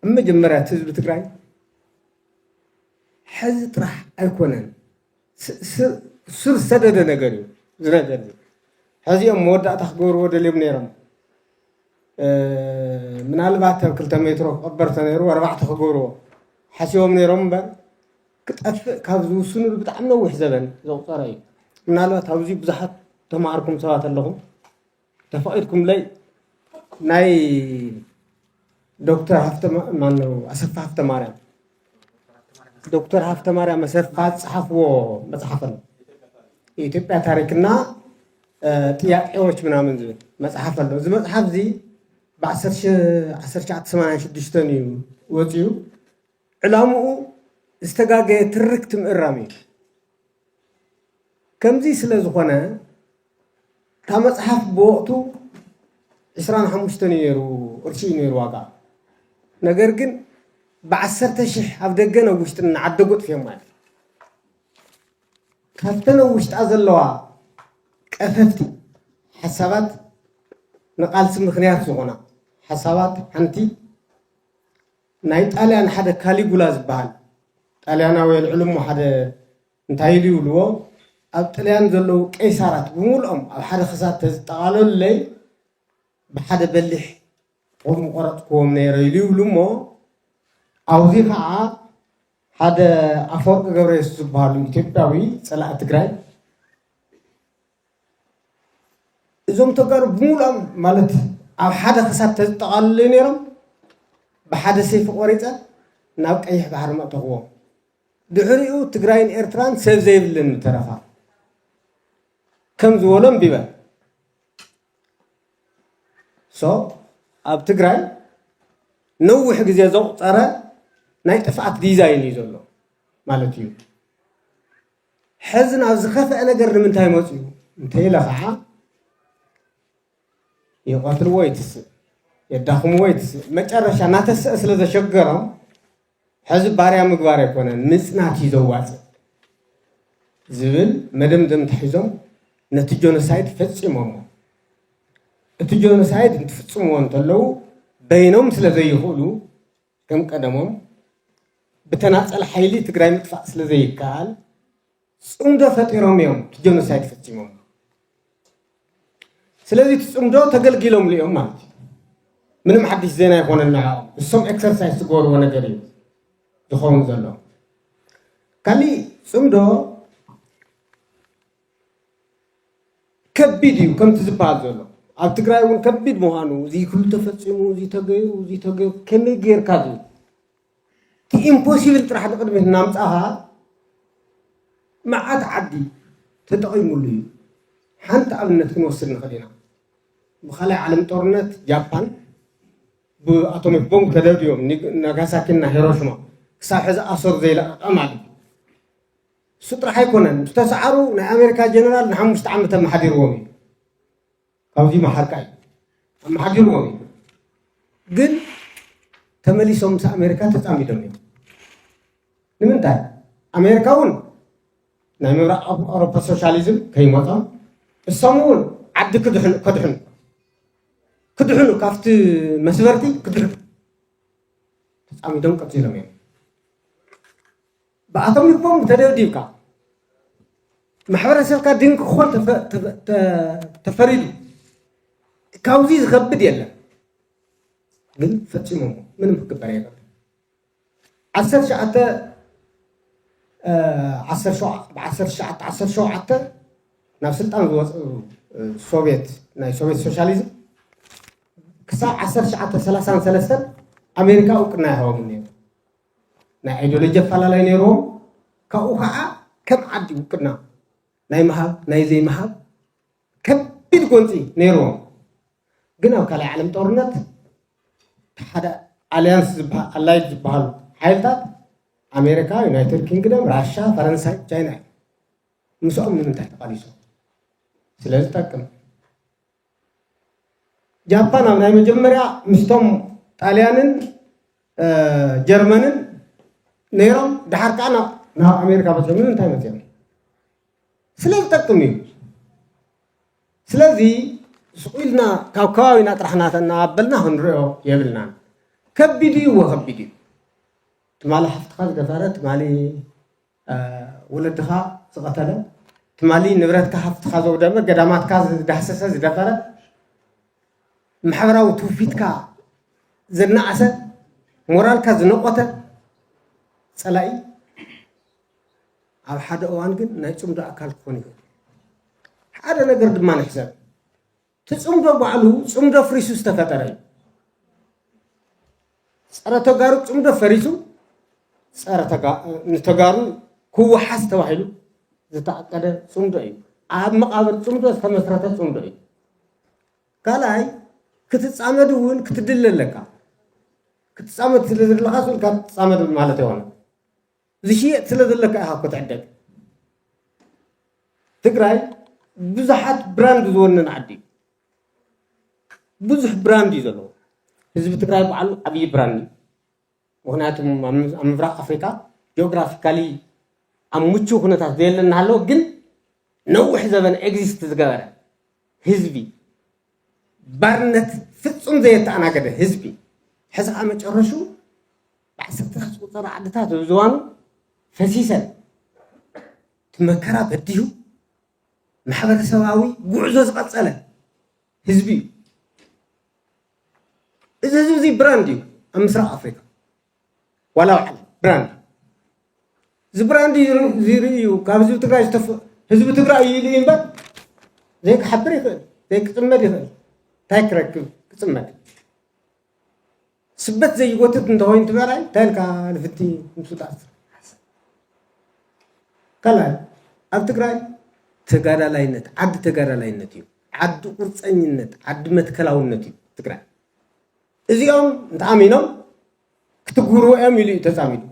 ኣብ መጀመርያ እቲ ህዝቢ ትግራይ ሕዚ ጥራሕ ኣይኮነን ስር ሰደደ ነገር እዩ ዝነገር እዩ ሕዚኦም መወዳእታ ክገብርዎ ደልዮም ነይሮም ምናልባት ኣብ ክልተ ሜትሮ ክቐበር ተነይሩ ኣርባዕተ ክገብርዎ ሓሲቦም ነይሮም እምበር ክጠፍእ ካብ ዝውስንሉ ብጣዕሚ ነዊሕ ዘበን ዘቑፀረ እዩ። ምናልባት ኣብዚ ብዙሓት ተማሃርኩም ሰባት ኣለኹም ተፈቒድኩምለይ ናይ ዶክተር ሃፍተ ማነው ኣሰፋ ሃፍተ ማርያም ዶክተር ሃፍተ ማርያም ኣሰፋ ዝፀሓፍዎ መፅሓፍ ኣሎ የኢትዮጵያ ታሪክና ጥያቄዎች ምናምን ዝብል መፅሓፍ ኣሎ እዚ መፅሓፍ እዚ ብ1986 እዩ ወፂኡ ዕላምኡ ዝተጋገየ ትርክት ምእራም እዩ። ከምዚ ስለ ዝኾነ እታ መጽሓፍ ብወቕቱ ዕስራን ሓሙሽተን እዩ ነይሩ ቅርሺ እዩ ነይሩ ዋጋ ነገር ግን ብዓሰርተ ሽሕ ኣብ ደገን ኣብ ውሽጥን እናዓደጉ ኣጥፍዮማ እዮም ካብተን ኣብ ውሽጣ ዘለዋ ቀፈፍቲ ሓሳባት ንቃልሲ ምክንያት ዝኾና ሓሳባት ሓንቲ ናይ ጣልያን ሓደ ካሊጉላ ዝበሃል ጣልያናዊ የልዕሉ እሞ ሓደ እንታይ ኢሉ ይብልዎ ኣብ ጥልያን ዘለዉ ቀይሳራት ብምሉኦም ኣብ ሓደ ክሳድ ተዝጠቓለሉለይ ብሓደ በሊሕ ጦር ምቆረፅክዎም ነይረ ኢሉ ይብሉ እሞ ኣብዙ ከዓ ሓደ ኣፈወርቂ ገብረየሱስ ዝበሃሉ ኢትዮጵያዊ ፀላኢ ትግራይ እዞም ተጋሩ ብምሉኦም ማለት ኣብ ሓደ ክሳብ ተዝጠቓልለዩ ነይሮም ብሓደ ሰይፊ ቆሪፀ ናብ ቀይሕ ባሕሪ መእተኽዎም ድሕሪኡ ትግራይን ኤርትራን ሰብ ዘይብልን ተረፋ ከም ዝበሎ እምቢበ ሶ ኣብ ትግራይ ነዊሕ ግዜ ዘቑፀረ ናይ ጥፍኣት ዲዛይን እዩ ዘሎ ማለት እዩ ሐዚ ናብ ዝኸፍአ ነገር ንምንታይ መፅኡ እንተኢለ ከዓ ይቐትልዎ ይትስእ የዳኽምዎ ይትስእ መጨረሻ እናተስአ ስለ ዘሸገሮም ሕዚ ባርያ ምግባር ኣይኮነን ምፅናት እዩ ዘዋፅእ ዝብል መደምደምታ ሒዞም ነቲ ጆኖሳይድ ፈፂሞሞ እቲ ጆኖሳይድ እንትፍፅምዎ እንተለዉ በይኖም ስለ ዘይኽእሉ ከም ቀደሞም ብተናፀል ሓይሊ ትግራይ ምጥፋእ ስለዘይከኣል ፅምዶ ፈጢሮም እዮም ጀኖሳይድ ፈፂሞም። ስለዚ እቲ ፅምዶ ተገልጊሎምሉ እዮም ማለት እዩ። ምንም ሓድሽ ዜና ይኮነ ንዕኦም እሶም ኤክሰርሳይዝ ዝገበርዎ ነገር እዩ ዝኸውን ዘሎ ካሊእ ፅምዶ ከቢድ እዩ ከምቲ ዝበሃል ዘሎ ኣብ ትግራይ እውን ከቢድ ምዃኑ እዚ ክሉ ተፈፂሙ እዚ ተገይሩ እዚ ተገይሩ ከመይ ጌርካ ዝብል እቲ ኢምፖሲብል ጥራሕ ንቅድሚት እናምፃኻ መዓት ዓዲ ተጠቒሙሉ እዩ ሓንቲ ኣብነት ክንወስድ ንኽእል ኢና ብካልኣይ ዓለም ጦርነት ጃፓን ብኣቶሚክ ቦምብ ተደብድዮም ናጋሳኪና ሂሮሽማ ክሳብ ሕዚ ኣሰሩ ዘይለቐቐ ማለት እዩ እሱ ጥራሕ ኣይኮነን ዝተሰዓሩ ናይ ኣሜሪካ ጀነራል ንሓሙሽተ ዓመት ኣመሓዲርዎም እዩ ካብዚ መሓርካ እዩ ኣመሓዲርዎም እዩ ግን ተመሊሶም ምስ ኣሜሪካ ተፃሚዶም እዮም ንምንታይ ኣሜሪካ እውን ናይ ምብራቅ ኣውሮፓ ሶሻሊዝም ከይመፆም እሶም እውን ዓዲ ክድሕኑ ከድሕኑ ክድሕኑ ካብቲ መስበርቲ ክድሕኑ ተፃሚዶም ቀፂሎም እዮም ብኣቶም ልቦም ተደብዲብካ ማሕበረሰብካ ድንቂ ክኾን ተፈሪዱ ካብዚ ዝኸብድ የለን ግን ፈፂሞ ምንም ክግበር የለን ዓሰርተ ሸዓተ ዓሰርተ ሸዓተ ዓሰርተ ሸውዓተ ናብ ስልጣን ዝወፅ ሶቪየት ናይ ሶቪየት ሶሻሊዝም ክሳብ ዓሰርተ ሸዓተ ሰላሳን ሰለስተን ኣሜሪካ እውቅና ይሃቦም ነይሩ ናይ ኣይዲዮሎጂ ኣፈላላይ ነይርዎም ካብኡ ከዓ ከም ዓዲ ውክልና ናይ ምሃብ ናይ ዘይምሃብ ከቢድ ጎንፂ ነይርዎም ግን ኣብ ካልኣይ ዓለም ጦርነት ሓደ ኣሊያንስ ዝበሃል ኣላይድ ዝበሃሉ ሓይልታት ኣሜሪካ ዩናይትድ ኪንግደም ራሻ ፈረንሳይ ቻይና እዩ ምስኦም ንምንታይ ተቃሊሶም ስለዝጠቅም ጃፓን ኣብ ናይ መጀመርያ ምስቶም ጣልያንን ጀርመንን ነይሮም ድሓር ከዓ ናብ ኣሜሪካ በፂሖም ንምንታይ መፅኦም ስለ ዝጠቅም እዩ ስለዚ ስቁኢልና ካብ ከባቢና ጥራሕ እናተናበልና ክንሪኦ የብልናን ከቢድ እዩ ወከቢድ እዩ ትማሊ ሓፍትኻ ዝደፈረ ትማሊ ወለድኻ ዝቐተለ፣ ትማሊ ንብረትካ ሃፍትኻ ዘውደመ፣ ገዳማትካ ዝዳህሰሰ ዝደፈረ፣ ማሕበራዊ ትውፊትካ ዘናኣሰ፣ ሞራልካ ዝነቖተ ፀላኢ ኣብ ሓደ እዋን ግን ናይ ፅምዶ ኣካል ክኾን ይኽእል። ሓደ ነገር ድማ ንሕሰብ። እቲ ፅምዶ ባዕሉ ፅምዶ ፍሪሱ ዝተፈጠረ እዩ። ፀረ ተጋሩ ፅምዶ ፈሪሱ ንተጋሩ ክወሓስ ተባሂሉ ዝተኣቀደ ፅምዶ እዩ። ኣብ መቃብር ፅምዶ ዝተመስረተ ፅምዶ እዩ። ካልኣይ ክትፃመድ እውን ክትድለ ኣለካ። ክትፃመድ ስለዘለካ ካብ ትፃመድ ማለት ይሆነ ዝሽየጥ ስለ ዘሎ ከዓ ኢኻ እኮ ትዕደግ ትግራይ ብዙሓት ብራንድ ዝወነን ዓዲ እዩ ብዙሕ ብራንድ እዩ ዘለዎ ህዝቢ ትግራይ በዓሉ ዓብዪ ብራንድ እዩ ምክንያቱ ኣብ ምብራቅ ኣፍሪካ ጂኦግራፊካሊ ኣብ ምቹው ኩነታት ዘየለ እናሃለወ ግን ነዊሕ ዘበን ኤግዚስት ዝገበረ ህዝቢ ባርነት ፍፁም ዘየተኣናገደ ህዝቢ ሕዚ ከዓ መጨረሹ ብዓሰርተታት ዝቑፀራ ዓድታት ኣብ ዝዋኑ ፈሲሰን እቲ መከራ በዲሁ ማሕበረሰባዊ ጉዕዞ ዝቐፀለ ህዝቢ እዩ። እዚ ህዝቢ እዚ ብራንድ እዩ ኣብ ምስራቕ ኣፍሪካ ዋላ ኣብ ዓለም ብራንድ እዚ ብራንድ ዝርኢ እዩ ካብ ህዝቢ ትግራይ ዝተፈ ህዝቢ ትግራይ እዩ ኢሉ እዩ እምበር ዘይክሓብር ይኽእል ዘይክፅመድ ይኽእል እንታይ ክረክብ ክፅመድ ስበት ዘይጎትት እንተኾይኑ እቲ በራይ እንታይ ኢልካ ንፍቲ ምፍጣጥ ካልኣይ ኣብ ትግራይ ተጋዳላይነት ዓዲ ተጋዳላይነት እዩ ዓዲ ቁርፀኝነት ዓዲ መትከላውነት እዩ ትግራይ እዚኦም እንተኣሚኖም ክትግብርዎ እዮም ኢሉ እዩ ተፃሚዱ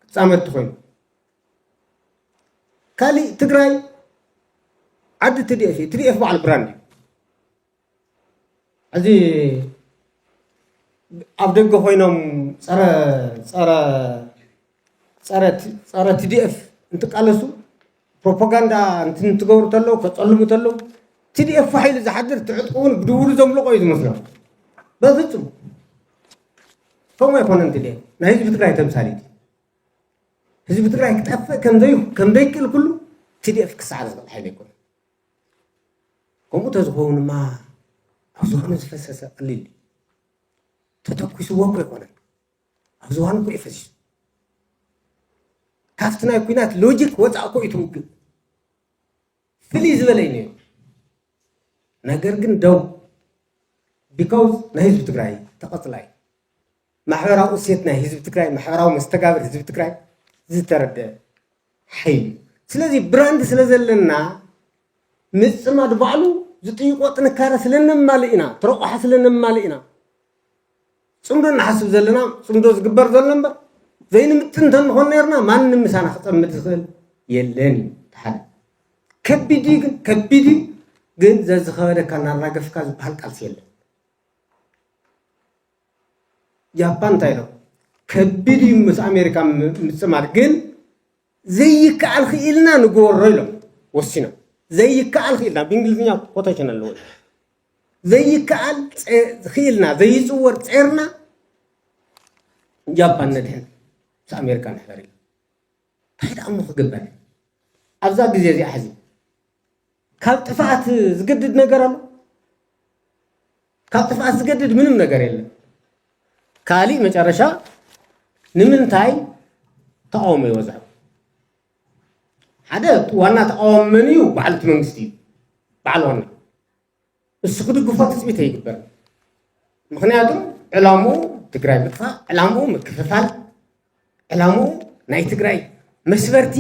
ክፃመድቲ ኮይኑ ካሊእ ትግራይ ዓዲ ትዲኤፍ እዩ ትዲኤፍ በዓል ብራንድ እዩ እዚ ኣብ ደገ ኮይኖም ፀረ ፀረ ፀረ ፀረ ቲዲኤፍ እንትቃለሱ ፕሮፓጋንዳ እንትገብሩ ተለው ከፀልሙ ተለው ቲዲኤፍ ሓይሉ ዝሓድር ትዕጥቁውን ብድውሉ ዘምልቆ እዩ ዝመስሎም በፍፁም ከምኡ ኣይኮነን ቲዲኤፍ ናይ ህዝቢ ትግራይ ተምሳሌት ህዝቢ ትግራይ ክጠፍእ ከምዘይክእል ኩሉ ቲዲኤፍ ክሳዕ ዝኽእል ሓይሊ ኣይኮነን ከምኡ ተዝኸውንማ ኣብ ዝባኑ ዝፈሰሰ ቀሊል እዩ። ተተኲስዎ እኮ ኣይኮነን፣ ኣብ ዝባኑ እኮ እዩ ፈሲሱ። ካብቲ ናይ ኩናት ሎጂክ ወፃእ እኮ እዩ እቲ ውግእ ፍልይ ዝበለ እዩ ነይሩ። ነገር ግን ደው ቢካውዝ ናይ ህዝቢ ትግራይ ተቐፅላይ ማሕበራዊ እሴት ናይ ህዝቢ ትግራይ፣ ማሕበራዊ መስተጋብር ህዝቢ ትግራይ ዝተረድአ ሓይሊ እዩ። ስለዚ ብራንድ ስለ ዘለና ምፅማድ ባዕሉ ዝጥይቆ ጥንካረ ስለ ነማልእ ኢና፣ ትረቑሓ ስለ ነማልእ ኢና ፅምዶ ንሓስብ ዘለና ፅምዶ ዝግበር ዘሎ እምበር ዘይንምጥን እንተንኾን ነርና ማንም ምሳና ክፀምድ ዝኽእል የለን እዩ ተሓደ ከቢድ እዩ ግን ከቢድ እዩ ግን ዘዝኸበደካ እናራገፍካ ዝበሃል ቃልሲ የለን ጃፓን እንታይ ኢሎም ከቢድ እዩ ምስ ኣሜሪካ ምፅማድ ግን ዘይከኣል ክኢልና ንግበሮ ኢሎም ወሲኖም ዘይከኣል ክኢልና ብእንግሊዝኛ ኮቴሽን ኣለዎ ዘይከኣል ክኢልና ዘይፅወር ፀርና ጃፓን ነድሕን ምስ ኣሜሪካ ንሕበር ኢሎም እንታይ ደኣ እሞ ክግበር ኣብዛ ግዜ እዚኣ ሕዚ ካብ ጥፍኣት ዝገድድ ነገር ኣሎ? ካብ ጥፍኣት ዝገድድ ምንም ነገር የለን። ካሊእ መጨረሻ ንምንታይ ተቃውሞ ይወዝዕ? ሓደ ዋና ተቃዋሚ መን እዩ? በዓል እቲ መንግስቲ እዩ። በዓል ዋና እሱ ክድግፎ ትፅቢት ኣይግበር ምክንያቱ ዕላሙ ትግራይ ምጥፋእ ዕላሙ ምክፍፋል ዕላሙ ናይ ትግራይ መስበርቲ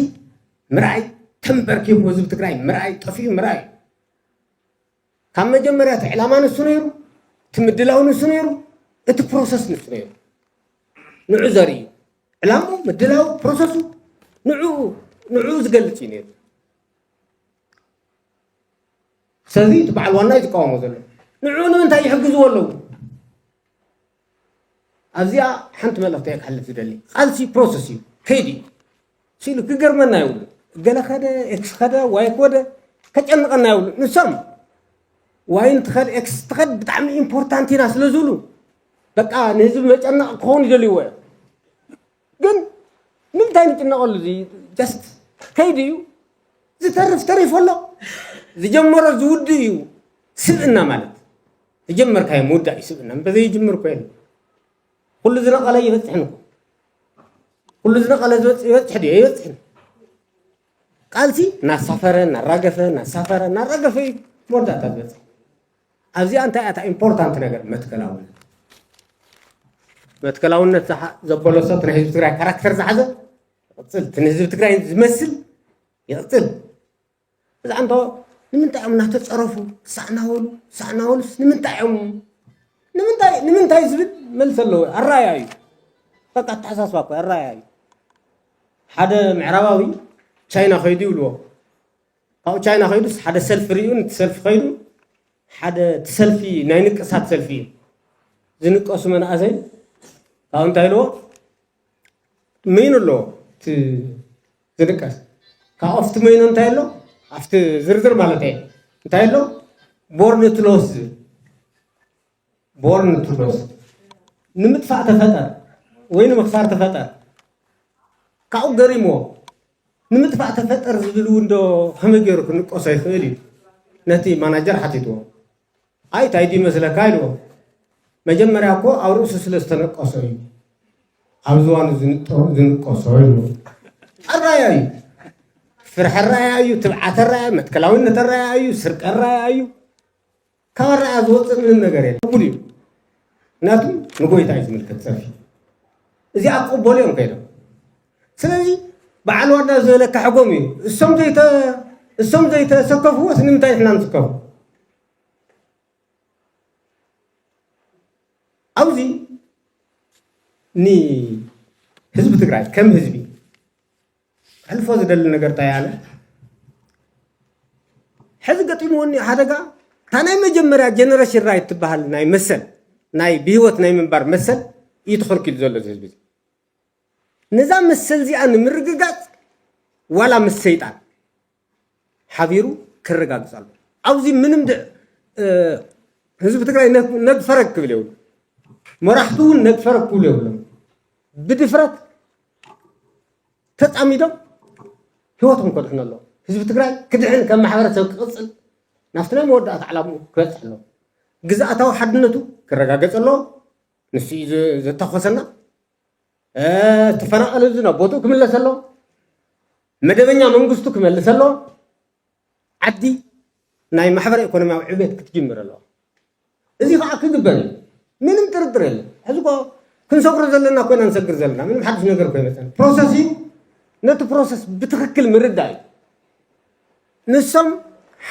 ምርኣይ ተንበርኪቡ ህዝቢ ትግራይ ምርኣይ ጠፍዩ ምርኣይ ካብ መጀመርያ እቲ ዕላማ ንሱ ነይሩ እቲ ምድላው ንሱ ነይሩ እቲ ፕሮሰስ ንሱ ነይሩ ንዑ ዘርኢ እዩ ዕላሙ ምድላው ፕሮሰሱ ንዑ ንዑ ዝገልፅ እዩ ነይሩ ስለዚ እቲ በዓል ዋና እዩ ዝቃወሞ ዘሎ ንዕኡ ንምንታይ ይሕግዝዎ ኣለዉ ኣብዚኣ ሓንቲ መልእኽቲ እየ ክሕልፍ ዝደሊ ቃልሲ ፕሮሰስ እዩ ከይዲ እዩ ስኢሉ ክገርመና ይብሉ እገለ ከደ ኤክስ ከደ ዋይ ኮደ ከጨንቐና ይብሉ ንሶም ዋይ እንትኸድ ኤክስ ትኸድ ብጣዕሚ ኢምፖርታንት ኢና ስለ ዝብሉ በቃ ንህዝቢ መጨነቕ ክኸውን ይደልይዎ እዮም ግን ንምንታይ ንጭነቐሉ እዚ ጀስት ከይዲ እዩ ዝተርፍ ተሪፉ ኣሎ ዝጀመሮ ዝውድእ እዩ ስብእና ማለት ዝጀመርካዮ ምውዳእ እዩ ስብእና እንተዘይጅምር እኮ የለ ኩሉ ዝነቐለ ይበፅሕን እኮ ኩሉ ዝነቐለ ዝበፅሕ ይበፅሕ ድዮ ይበፅሕን ቃልሲ እናሳፈረ እናራገፈ እናሳፈረ እናራገፈ እዩ መወዳእታ ዝበፅሕ ኣብዚኣ እንታይ እያ እታ ኢምፖርታንት ነገር መትከላውነት መትከላውነት ዘበሎ ሰብ ናይ ህዝቢ ትግራይ ካራክተር ዝሓዘ ይቕፅል እቲ ንህዝቢ ትግራይ ዝመስል ይቕፅል እዛ እንቶ ንምንታይ እዮም እናተፀረፉ ሳዕናወሉ ሳዕናወሉስ ንምንታይ እዮም ንምንታይ ንምንታይ ዝብል መልሲ ኣለዎ ኣራያ እዩ በቃ ኣተሓሳስባ እኮ ኣራያ እዩ ሓደ ምዕራባዊ ቻይና ከይዱ ይብልዎ ካብኡ ቻይና ከይዱስ ሓደ ሰልፊ ሪኡ ንቲ ሰልፊ ከይዱ ሓደ እቲ ሰልፊ ናይ ንቅሳት ሰልፊ እዩ ዝንቀሱ መናእሰይ ካብኡ እንታይ ኢልዎ መይኑ ኣለዎ እቲ ዝንቀስ ካብኡ ኣብቲ መይኑ እንታይ ኣሎ ኣብቲ ዝርዝር ማለት እየ እንታይ ኣሎ ቦርኒ ትሎስ ዝብል ቦርን ቱ ሎስ ንምጥፋእ ተፈጠር ወይ ንምክሳር ተፈጠር ካብኡ ገሪምዎ ንምጥፋእ ተፈጠር ዝብል እውን ዶ ከመይ ገይሩ ክንቆሶ ይኽእል እዩ ነቲ ማናጀር ሓቲትዎ ኣይ እንታይ ድዩ መስለካ ኢልዎ መጀመርያ እኮ ኣብ ርእሱ ስለ ዝተነቀሶ እዩ ኣብ ዝዋኑ ዝንቀሶ ኢልዎ ሕራያ እዩ ፍርሒ ራያ እዩ ትብዓተ ራያ መትከላዊነት ራያ እዩ ስርቀ ራያ እዩ ካብ ኣረኣእያ ዝወፅእ ምንም ነገር የለ ቅቡል እዩ ምክንያቱ ንጎይታ እዩ ዝምልከት ፀርፊ እዚኣ ክቕበሉ እዮም ከይዶም ስለዚ በዓል ዋና ዝበለካ ሕጎም እዩ እሶም ዘይተ እሶም ዘይተሰከፍዎስ ንምንታይ ንሕና ንስከፉ ኣብዚ ንህዝቢ ትግራይ ከም ህዝቢ ክሕልፎ ዝደሊ ነገር እንታይ ኣነ ሕዚ ገጢሙኒ ሓደጋ እታ ናይ መጀመርያ ጀነሬሽን ራይት ትበሃል ናይ መሰል ናይ ብሂወት ናይ ምንባር መሰል እዩ ተኸልኪሉ ዘሎ እዚ ህዝቢ ነዛ መሰል እዚኣ ንምርግጋፅ ዋላ ምስ ሰይጣን ሓቢሩ ከረጋግፅ ኣለዎ። ኣብዚ ምንም ህዝቢ ትግራይ ነግፈረግ ክብል የብሉ፣ መራሕቱ እውን ነግፈረግ ክብሉ የብሎም። ብድፍረት ተፃሚዶም ህይወቶም ከድሕኑ ኣለዎ። ህዝቢ ትግራይ ክድሕን ከም ማሕበረሰብ ክቕፅል ናብቲ ናይ መወዳእታ ዕላምኡ ክበፅሕ ኣለዎ። ግዝኣታዊ ሓድነቱ ክረጋገፅ ኣለዎ። ንሱ እዩ ዘተኮሰና ተፈናቐለ ህዝቢ ናብ ቦትኡ ክምለስ ኣሎ መደበኛ መንግስቱ ክመልስ ኣሎ ዓዲ ናይ ማሕበረ ኢኮኖሚያዊ ዕቤት ክትጅምር ኣለዋ እዚ ከዓ ክግበር እዩ ምንም ጥርጥር የለን ሕዚ እኮ ክንሰግሮ ዘለና ኮይና ንሰግር ዘለና ምንም ሓድሽ ነገር ኮይመፀን ፕሮሰስ እዩ ነቲ ፕሮሰስ ብትክክል ምርዳእ እዩ ንሶም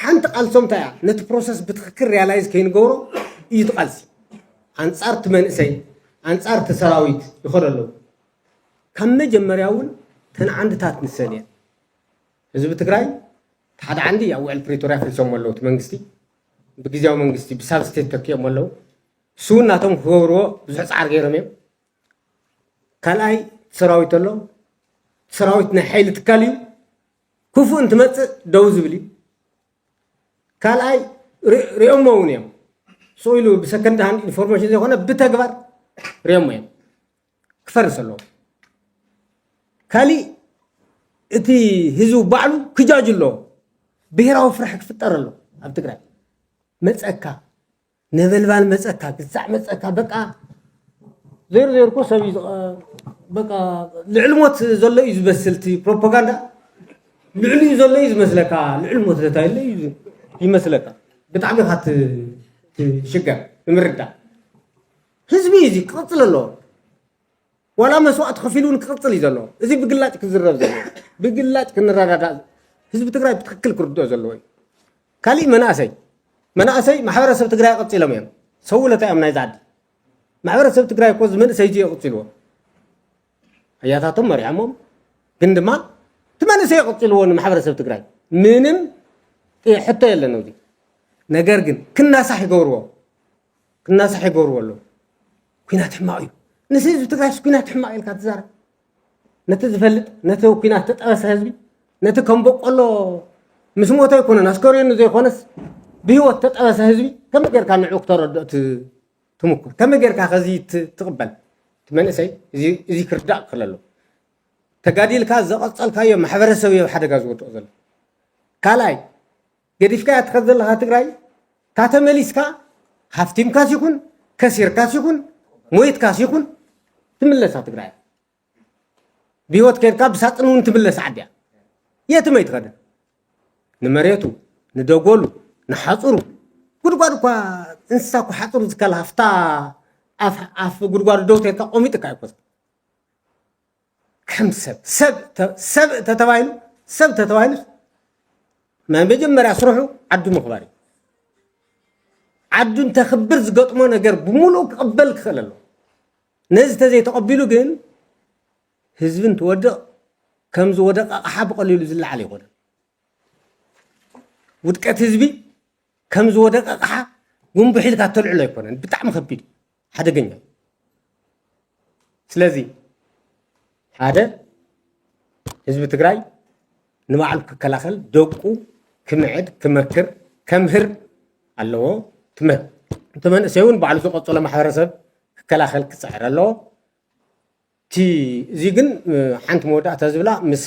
ሓንቲ ቃልሶም እንታይ እያ ነቲ ፕሮሰስ ብትክክል ሪያላይዝ ከይንገብሮ እዩ እቲ ቃልሲ ኣንፃር እቲ መንእሰይ ኣንፃር እቲ ሰራዊት ይኸዶ ኣለዉ ካብ መጀመርያ እውን ተን ዓንድታት ንሰን እየን ህዝቢ ትግራይ እቲ ሓደ ዓንዲ ኣብ ውዕል ፕሪቶርያ ፍሪሶሞ ኣለዉ እቲ መንግስቲ ብግዜያዊ መንግስቲ ብሳብስቴት ተኪኦም ኣለዉ እሱ እውን ናቶም ክገብርዎ ብዙሕ ፃዕር ገይሮም እዮም ካልኣይ ሰራዊት ኣሎ ሰራዊት ናይ ሓይሊ ትካል እዩ ክፉእ እንትመፅእ ደው ዝብል እዩ ካልኣይ ሪኦሞ እውን እዮም ስኡ ኢሉ ብሰከንድ ሃንድ ኢንፎርሜሽን ዘይኮነ ብተግባር ሪኦሞ እዮም ክፈርስ ኣለዎ ካሊእ እቲ ህዝቢ ባዕሉ ክጃጅ ኣለዎ ብሄራዊ ፍራሕ ክፍጠር ኣሎ ኣብ ትግራይ መፀካ ነበልባል መፀካ ግዛዕ መፀካ በቃ ዜር ዜር እኮ ሰብ እዩ በቃ ልዕሊ ሞት ዘሎ እዩ ዝበስል እቲ ፕሮፓጋንዳ ልዕሊ እዩ ዘሎ እዩ ዝመስለካ ልዕሊ ሞት ዘታ የለ እዩ ይመስለካ ብጣዕሚ ኢኻ ትሽገር ንምርዳእ ህዝቢ እዩ እዚ ክቕፅል ኣለዎ ዋላ መስዋእቲ ከፊሉ እውን ክቕፅል እዩ ዘለዎ እዚ ብግላጭ ክዝረብ ዘለዎ ብግላጭ ክንረዳዳእ ህዝቢ ትግራይ ብትክክል ክርድኦ ዘለዎ እዩ ካሊእ መናእሰይ መናእሰይ ማሕበረሰብ ትግራይ ቀፂሎም እዮም ሰውለታ እዮም ናይዚ ዓዲ ማሕበረሰብ ትግራይ እኮ መንእሰይ እዩ የቕፅልዎ ኣያታቶም መሪሖሞም ግን ድማ እቲ መንእሰይ የቕፅልዎ ንማሕበረሰብ ትግራይ ምንም ሕቶ የለን እዚ ነገር ግን ክናሳሕ ይገብርዎ ክናሳሕ ይገብርዎ ኣለዉ ኩናት ሕማቅ እዩ ንስ ህዝቢ ትግራይስ ኩናት ሕማቅ ኢልካ ትዛረብ ነቲ ዝፈልጥ ነቲ ኩናት ተጠበሰ ህዝቢ ነቲ ከም በቆሎ ምስ ሞተ ኣይኮነን ኣስከሬኑ ዘይኮነስ ብሂወት ተጠበሰ ህዝቢ ከመይ ጌርካ ንዑ ክተረድኦ ትምኩር ከመይ ጌርካ ከዚ ትቕበል እቲ መንእሰይ እዚ ክርዳእ ክኽእል ኣለዎ ተጋዲልካ ዘቐፀልካዮ ማሕበረሰብ እዮ ሓደጋ ዝወድቕ ዘሎ ካልኣይ ገዲፍካያ ትኸድ ዘለኻ ትግራይ እታ ተመሊስካ ሃፍቲምካስ ይኹን ከሲርካስ ይኹን ሞይትካስ ይኹን ትምለሳ ትግራይ ብሂወት ከድካ ብሳጥን እውን ትምለስ ዓዲ እያ የትም ኣይትኸድን ንመሬቱ ንደጎሉ ንሓፁሩ ጉድጓድ እኳ እንስሳ እኳ ሓፅሩ ዝከልሃፍታ ኣፍ ጉድጓዱ ደው ተልካ ቆሚጥካ ኣይኮ ከም ሰብ ሰብ ተ- ሰብ ተተባሂሉ ሰብ ተተባሂሉስ ናይ መጀመርያ ስርሑ ዓዱ ምኽባር እዩ ዓዱ እንተኽብር ዝገጥሞ ነገር ብምሉእ ክቕበል ክኽእል ኣለዎ ነዚ ተዘይተቐቢሉ ግን ህዝቢ እንትወድቕ ከም ዝወደቕ ኣቕሓ ብቐሊሉ ዝለዓል ኣይኮነን ውድቀት ህዝቢ ከም ዝወደቐ ኣቕሓ ጉንቡሕ ኢልካ እተልዕሎ ኣይኮነን ብጣዕሚ ከቢድ እዩ ሓደገኛ እዩ ስለዚ ሓደ ህዝቢ ትግራይ ንባዕሉ ክከላኸል ደቁ ክምዕድ ክመክር ከምህር ኣለዎ እቲ መንእሰይ እውን ባዕሉ ዝቐፅሎ ማሕበረሰብ ክከላኸል ክፅዕር ኣለዎ እቲ እዚ ግን ሓንቲ መወዳእታ ዝብላ ምስ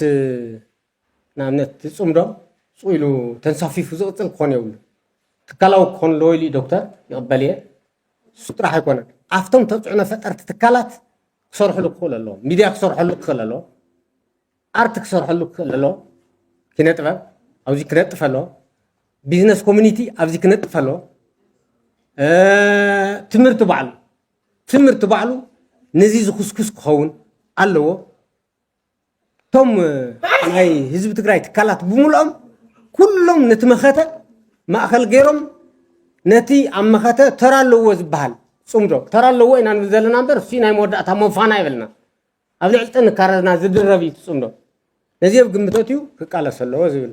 ንኣብነት እቲ ፅምዶ ፅው ኢሉ ተንሳፊፉ ዝቕፅል ክኾን የብሉ ትካላዊ ክኾን ኣለዎ ኢሉ ዶክተር ይቕበል እየ እሱ ጥራሕ ኣይኮነን ኣብቶም ተፅዕኖ ፈጠርቲ ትካላት ክሰርሕሉ ክኽእሉ ኣለዎ ሚድያ ክሰርሐሉ ክኽእል ኣለዎ ኣርት ክሰርሐሉ ክኽእል ኣለዎ ኪነ ጥበብ ኣብዚ ክነጥፍ ኣለዎ ቢዝነስ ኮሚኒቲ ኣብዚ ክነጥፍ ኣለዎ ትምህርቲ ባዕሉ ትምህርቲ ባዕሉ ነዚ ዝኽስኩስ ክኸውን ኣለዎ እቶም ናይ ህዝቢ ትግራይ ትካላት ብምልኦም ኩሎም ነቲ መኸተ ማእኸል ገይሮም ነቲ ኣብ መኸተ ተራ ኣለዎ ዝበሃል ፅምዶ ተራ ኣለዎ ኢና ንብል ዘለና እምበር እሱ ናይ መወዳእታ መፋና ይበልና ኣብ ልዕሊ ጥንካረና ዝድረብ እዩ ፅምዶ ነዚ ኣብ ግምተት እዩ ክቃለስ ኣለዎ ዝብል